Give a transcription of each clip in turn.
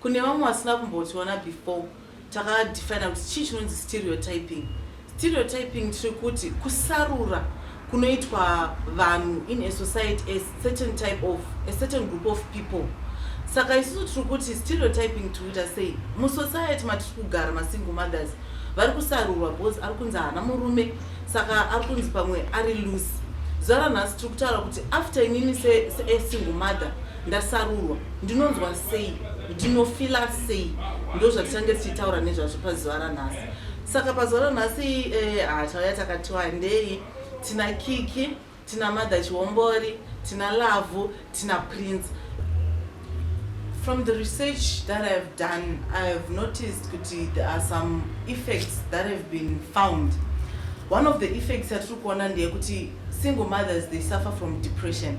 Kune vamwe vasina kumbotiona before takadefina kuti chii chinonzi stereotyping. Stereotyping tiri kuti kusarura kunoitwa vanhu in a society a certain type of a certain group of people saka isusu tiri kuti stereotyping tiri kuita sei musociety matiri kugara masingle mothers vari kusarurwa bcause ari kunzi haana murume saka ari kunzi pamwe ari loose zuva ranhasi tiri kutaura kuti after inini sesingle mother ndasarurwa ndinonzwa sei ndinofila sei ndo zvatichange tichitaura nezvazvo pazuva ranhasi saka pazuva ranhasi eh, hatauya ah, takati wandei tina kiki tina mother chihombori tina lavhu tina prince from the research that i have done i have noticed kuti there are some effects that have been found one of the effects yatiri kuona ndeyekuti single mothers they suffer from depression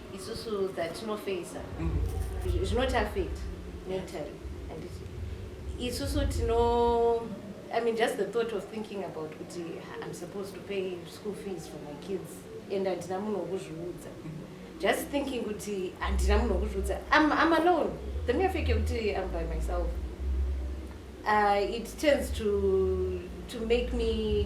isusu dzatinofeisa mm-hmm. zvinoti affect mentally handiti isusu tino i mean just the thought of thinking about kuti i'm supposed to pay school fees for my kids and handina munhu wokuzviudza mm-hmm. just thinking kuti handina munhu wokuzviudza i'm alone the mere fact yokuti i'm by myself uh, it tends to to make me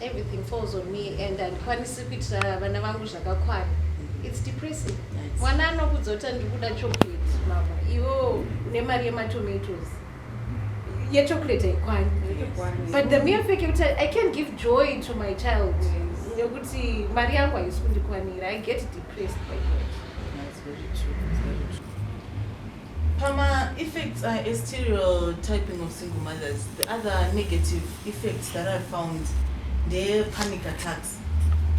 everything falls on me and handikwanisi kuitira vana vangu zvakakwana its depressing mwana anokudzota ndikuda chocolate mama iwo une mari yematomatoes yechocolate haikwani but the mere fact yekuti i can give joy to my child nekuti mari yangu haisi kundikwanira i get depressed by that Pama effects are a serial typing of single mothers. The other negative effects that I found ndeye panic attacks.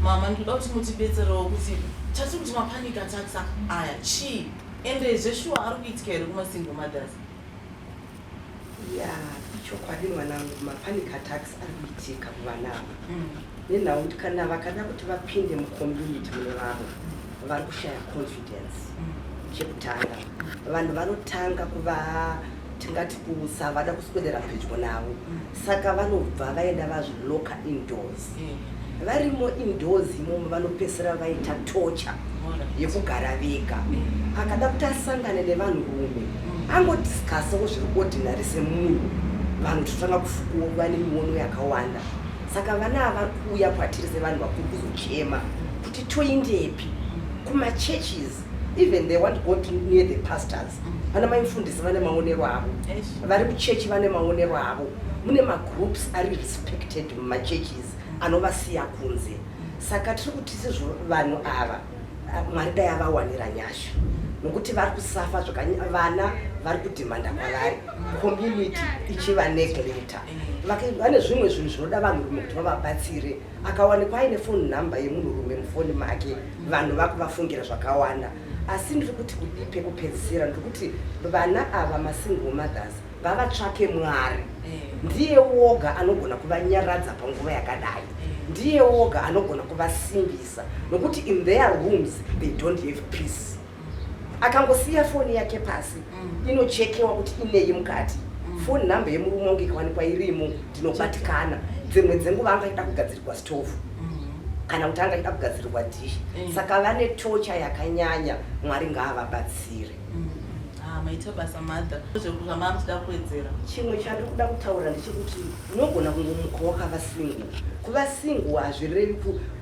Mama ndikuda kuti mutibetserewo kuti chatiri kuti mapanic attacks aya chii ende zveshuwa ari kuitika here kuma single mothers. Yeah, ichokwadi mwanangu mapanic attacks ari kuitika kuvana ava mm. nenhau kuti kana vakada kuti vapinde mucommunity mune vavo vari kushaya confidence mm. chekutanga vanhu vanotanga kuva tingati kusavada kuswedera pedyo navo mm. saka vanobva vaenda vazviloka indoors varimo indoors imomo vanopesera vaita tocha yekugara vega mm. akada kuti asangane nevanhu rume mm. angodiscasawo zviri ordinary semunhu vanhu totanga kufukuwa kuva nemiono yakawanda saka vana avari kuuya kwatiri sevanhu vakuru kuzochema kuti toindepi mm. kumachurches even they want go to near the pastors vana maimfundisi vane maonero avo vari kuchechi vane maonero avo mune magroups ari respected machurches anovasiya kunze saka tiri kuti sezvo vanhu ava mwari dai avawanira nyasha nokuti vari kusafa zvakavana vari kudhimanda kwavari community ichiva negleta vane zvimwe zvinhu zvinoda vanhurume kuti vavabatsire akawanikwa aine foni number yemunhurume mufoni make vanhu vakuvafungira zvakawanda asi ndiri kuti kudii pekupedzisira ndiri kuti vana ava masingle mothers ngavatsvake mwari ndiye woga anogona kuvanyaradza panguva yakadai ndiye woga anogona kuvasimbisa nokuti in their rooms they don't have peace akangosiya foni yake pasi mm. inochekewa kuti ineyi mukati mm. foni nhamba yemurume wangu ikawanikwa irimo ndinobatikana dzimwe dzenguva anga ida kugadzirirwa stove mm. kana kuti anga ida kugadzirirwa dish saka vane tocha yakanyanya mwari ngaavabatsire Ah, maita basa mother zvamari kuda kuwedzera chimwe chandiri kuda kutaura ndechekuti unogona kungomuka wakava single kuva single hazvirevi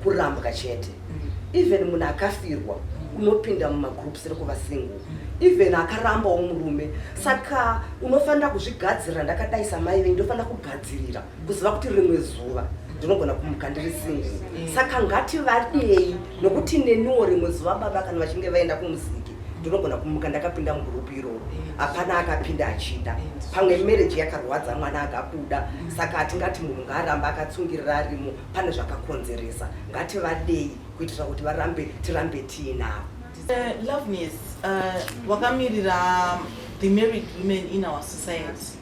kurambwa chete mm. even munhu akafirwa mm. unopinda mumagroups rekuva single mm. even akarambawo murume saka unofanira kuzvigadzirira ndakadai samai venyu ndofanira kugadzirira kuziva kuti rimwe zuva ndinogona kumuka ndiri singi mm. saka ngati vadei nokuti neniwo rimwe zuva baba kana vachinge vaenda kumuziki ndinogona kumuka ndakapinda mugurupu iroro mm. hapana akapinda achida mm. pamwe mereji yakarwadza mwana akabuda saka hatingati munhu ngaaramba akatsungirira arimo pane zvakakonzeresa ngati vadei kuitira kuti varambe tirambe tiinavo uh, loveness uh, wakamirira the married women in our society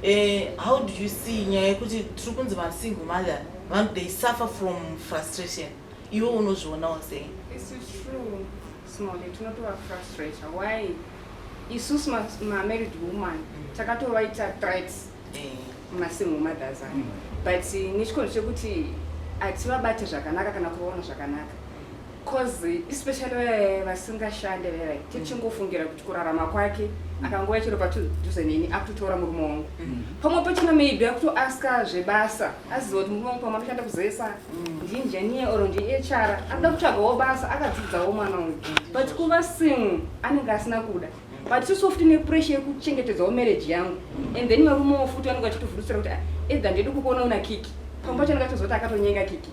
Eh, how do you see nyaya yekuti tiri kunzi masingle mother vanhu they suffer from frustration iwe unozvionawo sei isusu mamarried woman takatovaita threats eh. masingle mothers ayo mm. but nechikondo chekuti hativabate zvakanaka kana kuvaona zvakanaka coz especially vaye vasingashande vaya mm. tichingofungira kuti kurarama kwake akangouya chero padhuze neni akutotora murume wangu mm. pamwe pachina maybe akutoaska zvebasa aziva kuti murume wangu pamwe anoshanda kuzesa mm. ndiinjeniye or ndihr anoda kutsvagawo basa akadzidzawo mwana wangu but kuva single anenge asina kuda but isusu futi nepressure yekuchengetedzawo marriage yangu and then varumewo futi vanenge vachitofurutsira kuti ah, either ndidi kukuona una kiki pamwe pacho anenge achizoti akatonyenga kiki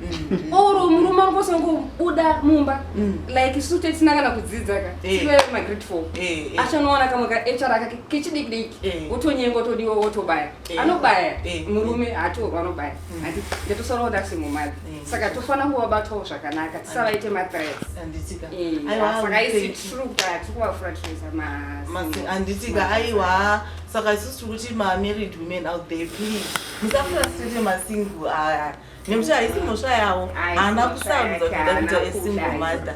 mm. or murume angosangobuda mumba mm. like isu tetisina kana kudzidza ka eh. tive magreat four eh, eh. achanowana kamwe kahr akake kechidikidiki wotonyenga otodiwa wotobaya anobaya murume hatorwa anobaya mm. ati ndatosara kuti asi mumadzi saka tofanira kuvabatwawo zvakanaka tisavaite mathreatsaka isi true kuti hatikuvafura tichiisa mahanditika aiwa saka isusu tiri kuti mamarried women out there please musafura sitete masingle aya nekuti haisi mhosva yavo haana kusarudza kuda kuita asingle mother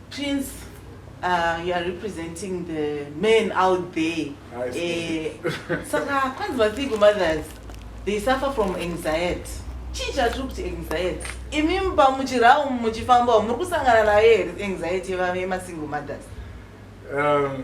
prince Uh, you are representing the men out there eh, saka kwanzi vasingle mothers they suffer from anxiety chii chatiri kuti anxiety imi muba muchirawo muchifambawo muri kusangana nayo here anxiety yemasingle mothers um,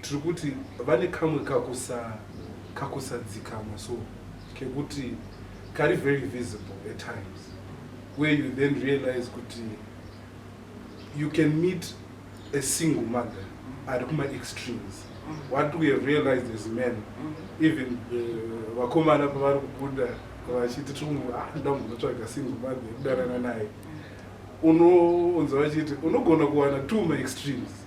tiri kuti vane kamwe kakusa kakusadzikama so kekuti kari very visible at times where you then realize kuti you can meet a single mother ari kuma extremes mm-hmm. what we have realized as men mm-hmm. even uh, vakomana uh, pavari kubuda vachiti tringu ah, ndamunotsvaga single mother yekudanana naye mm-hmm. unoonza vachiti unogona kuwana two ma extremes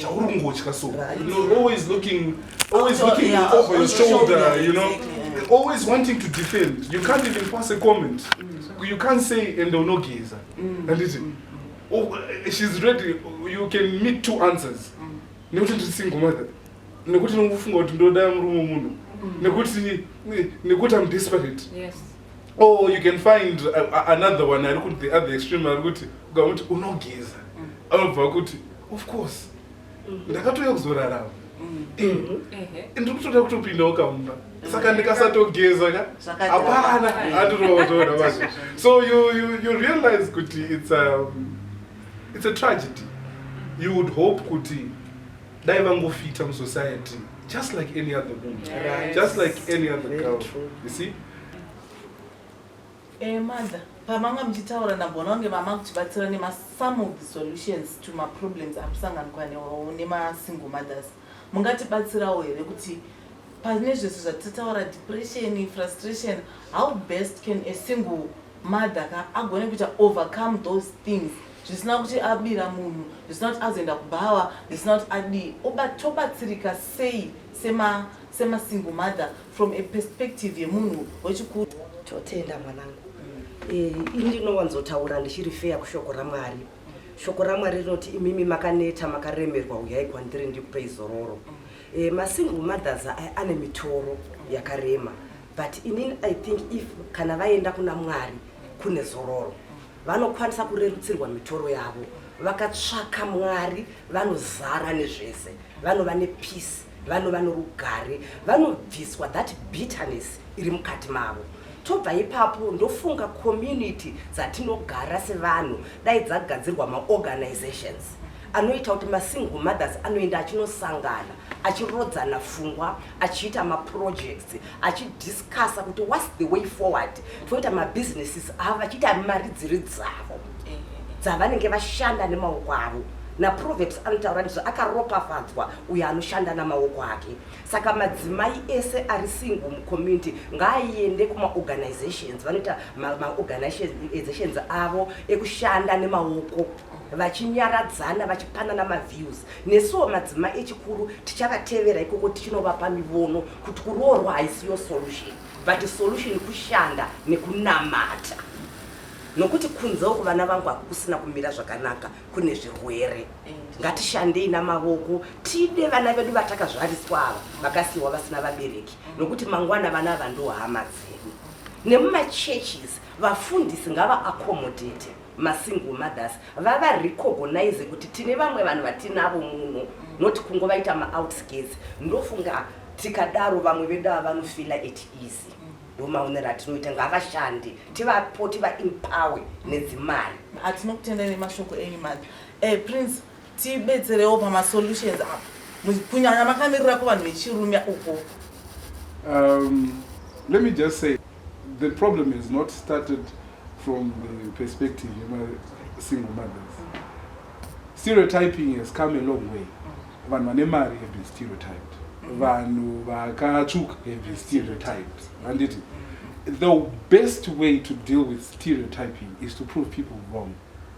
chauri kungotya so you're always looking always looking yeah, over your shoulder you know exactly. always wanting to defend you can't even pass a comment mm. you can't say ende unogeza mm. and listen mm. oh, eh, she's ready you can meet two answers mm. nekuti ndiri single mother nekuti ndikufunga kuti ndoda murume munhu mm. nekuti nekuti i'm desperate yes. or you can find uh, another one ari kuti the other extreme ari kuti ukamuti unogeza mm. anobva kuti of course mm-hmm. ndakatouya kuzorarama mm. eh, mm-hmm. ndiri kutoda kutopindawo kamumba saka mm. ndikasatogeza ka hapana handirootoona vacho so you, you, you realize kuti it's a, um, it's a tragedy you would hope kuti dai vangofita musociety just like any other woman right. just like any other Very girl true. you see eh, mother pamanga muchitaura ndagona kunge mama kuchibatsira nemasome of the solutions to maproblems amusanganikwa newawo nemasingle mothers mungatibatsirawo here kuti pane zvese zvatitaura depression frustration how best can a single mother ka agone kuita overcome those things mm. zvisina kuti abira munhu zvisina kuti azoenda kubhawa zvisina kuti adii tobatsirika sei semasingle mother from a perspective yemunhu wechikuru totenda mwanangu eh, ini ndinowanzotaura ndichiri feya kushoko ramwari shoko ramwari rinoti imimi makaneta makaremerwa uyai kwandiri ndikupe izororo eh, masingle mothers ane mitoro yakarema but inini i think if kana vaenda kuna mwari kune zororo vanokwanisa kurerutsirwa mitoro yavo vakatsvaka mwari vanozara nezvese vanova nepeace vanova norugare vanobviswa that bitterness iri mukati mavo tobva ipapo ndofunga community dzatinogara sevanhu dai dzagadzirwa maorganizations anoita kuti masingle mothers anoenda achinosangana achirodzana fungwa achiita maprojects achidiscussa kuti whats the way forward toita mabusinesses avo vachiita mari dziri dzavo eh, eh, eh. dzavanenge vashanda nemaoko avo naproverbs anotaura ndizvo akaropafadzwa uyo anoshanda namaoko ake saka madzimai ese ari single mucommunity ngaaende kumaorganizations vanoita maorganizations avo ekushanda nemaoko vachinyaradzana vachipanana maviews nesuwo madzima echikuru tichavatevera ikoko tichinovapa mivono kuti kuroorwa haisiyo solution but solution kushanda nekunamata nokuti kunze uku vana vangu hakukusina kumira zvakanaka kune zvirwere ngatishandei namavoko tide vana vedu vatakazvariswa ava vakasiyiwa vasina vabereki nokuti mangwana vana ava ndohama dzedu nemumachurches vafundisi ngava accommodate masingle mothers vava recognize kuti tine vamwe vanhu vatinavo muno not kungovaita maoutskirts ndofunga tikadaro vamwe vedu ava vanofila at easy ndomaonero atinoita ngavashande tivapo tivaempowe nedzimari hatinokutendai nemashoko enyu mari eh, prince tibetserewo pama solutions apa kunyanya makamirira kuvanhu vechirume uko um, let me just say the problem is not started from the perspective yemasingle mothers stereotyping has come a long way vanhu vane mari have been stereotyped vanhu vakatsvuka have been stereotyped handiti the best way to deal with stereotyping is to prove people wrong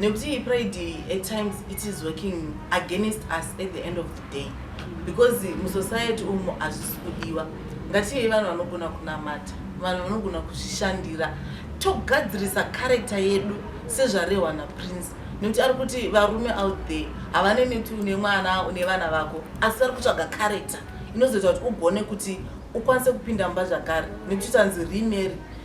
nekuti pride at times it is working against us at the end of the day because musociety umo hazvisi kudiwa ngatiyei vanhu vanogona kunamata vanhu vanogona kuzvishandira togadzirisa karekta yedu sezvarehwa naprince nekuti ari kuti varume out there havane neti une mwana une vana vako asi vari kutsvaga karekta inozoita kuti ugone kuti ukwanise kupinda mumba zvakare nekuti tanzi remary